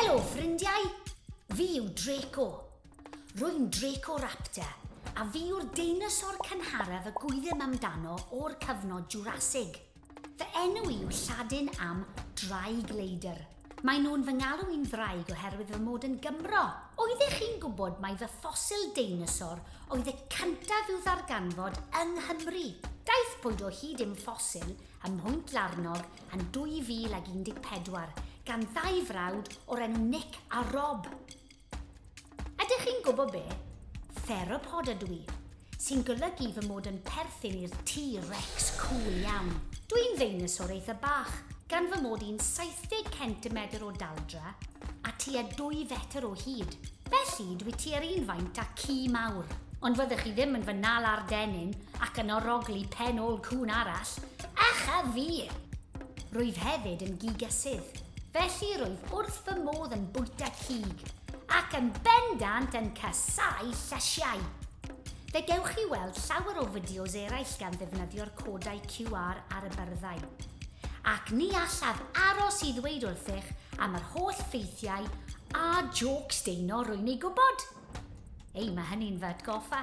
Helo, ffrindiau! Fi yw Draco. Rwy'n Draco Raptor, a fi yw'r deinosor cynharaf y gwyddym amdano o'r cyfnod Jurassic. Fy enw i yw Lladin am draig leidr. Mae nhw'n fy ngalw i'n ddraig oherwydd fy mod yn Gymro. Oeddech chi'n gwybod mai fy ffosil deinosor oedd y cyntaf i'w ddarganfod yng Nghymru? Daeth bwyd o hyd i'm ffosil ym Mhont Larnog yn 2014 gan ddau frawd o'r enw Nick a Rob. Ydych chi'n gwybod be? Theropod ydw i, sy'n golygu fy mod yn perthyn i'r T-Rex cool iawn. Dwi'n ddeinosor eitha bach, gan fy mod i'n 70 centimetr o daldra a tua 2 fetr o hyd. Felly, dwi tua'r un faint â ci mawr. Ond fyddech chi ddim yn fy nala'r dennyn ac yn orogli pen ôl cŵn arall, ach a fi! Rwyf hefyd yn gigysydd, felly rwyf wrth fy modd yn bwyta cig, ac yn bendant yn casáu llysiau. Fe gewch chi weld llawer o fideos eraill gan ddefnyddio'r codau QR ar y byrddau. Ac ni allaf aros i ddweud wrthych am yr holl ffeithiau a jôcs deuno rwy'n ei gwybod. Ei, mae hynny'n fy atgoffa.